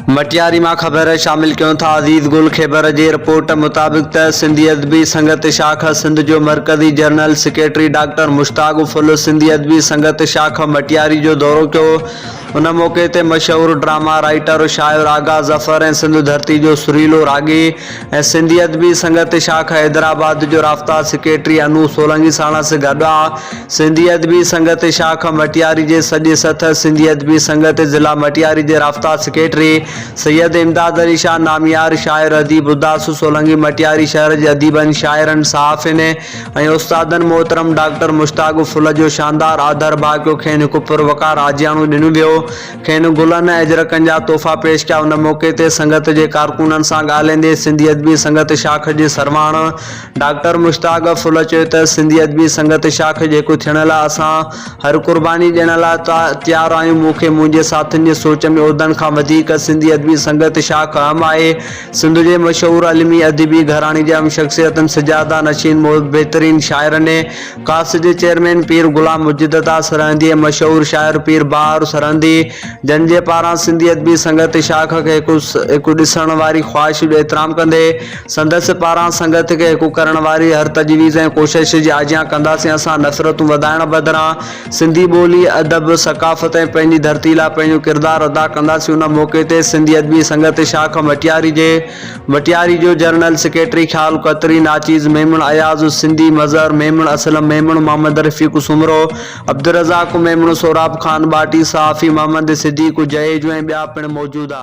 مٽياري مان خبر شامل ڪيون ٿا عزيز گل خيبر جي رپورٽ مطابق ته سنڌي ادبي سنگت شاخ سنڌ جو مرڪزي general secretary doctor Mushtaq Phul Sindhi Adabi Sangat شاخ مٽياري جو دورو ڪيو ان موقعي تي مشهور ڊراما رائيٽر شاعر آغا ظفر ۽ سنڌ ڌرتي جو سريلو راڳي ۽ سنڌي ادبي سنگت شاخ حيدرآباد جو رابطا سيڪريٽري انوپ سولنگي ساڻس گڏ آء سنڌي ادبي سنگت شاخ مٽياري جي سڄي سٿ سنڌي ادبي سنگت ضلع مٽياري جي رابطا سيڪريٽري سيد امداد علي شاهه ناميار شاعر اديب اداس سولنگي مٽياري شهر جي اديبن شاعرن صحافين ۽ استادن محترم ڊاڪٽر مشتاق ڦلجو شاندار آڌر ڀاڪيو کين هڪ پروقار آجياڻو ڏنو ويو کين گلن ۽ اجرڪن جا تحفا پيش ڪيا ان موقعي تي سنگت جي ڪارڪنن سان ڳالهائيندي سنڌي ادبي سنگت شاخ جي سرواڻ ڊاڪٽر مشتاق ڦل چيو ته سنڌي ادبي سنگت شاخ جيڪو ٿيڻ لاء اسان هر قرباني ڏيڻ لاء تيار آهيون مون کي منهنجي ساٿين جي سوچ ۾ عهدن کان وڌيڪ سنڌي ادبي سنگت شاخ اهم آهي سنڌ جي مشهور علمي ادبي گهراڻي جي اهم شخصيتن سجاده نشين بهترين شاعرن ڪاس جي چيئرمين پير غلام مجيد عطا سرهندي ۽ مشهور شاعر پير بهاء سرهندي جن جي پاران سنڌي ادبي سنگت شاخ کي هڪ هڪ ڏسڻ واري خواهش جو احترام ڪندي سندس پاران سنگت کي هڪ ڪرڻ واري هر تجويز ۽ ڪوشش جي آجيان ڪنداسين اسان نفرتون وڌائڻ بدران سنڌي ٻولي ادب ثقافت ۽ پنهنجي ڌرتي لاء پنهنجو ڪردار ادا ڪنداسين ان موقعي تي سنڌي ادبي سنگت شاخ مٽياري جي وٽياري جو جنرل سيڪريٽري خيال قطري، ناچيز ميمڻ، اياز السندي، مظهر ميمڻ، اسلم ميمڻ، محمد رفيق سومرو، عبدالرزاق ميمڻ، سهراب خان ٻاٽي، صحافي محمد صديق جهيجو ۽ ٻيا پڻ موجود ها.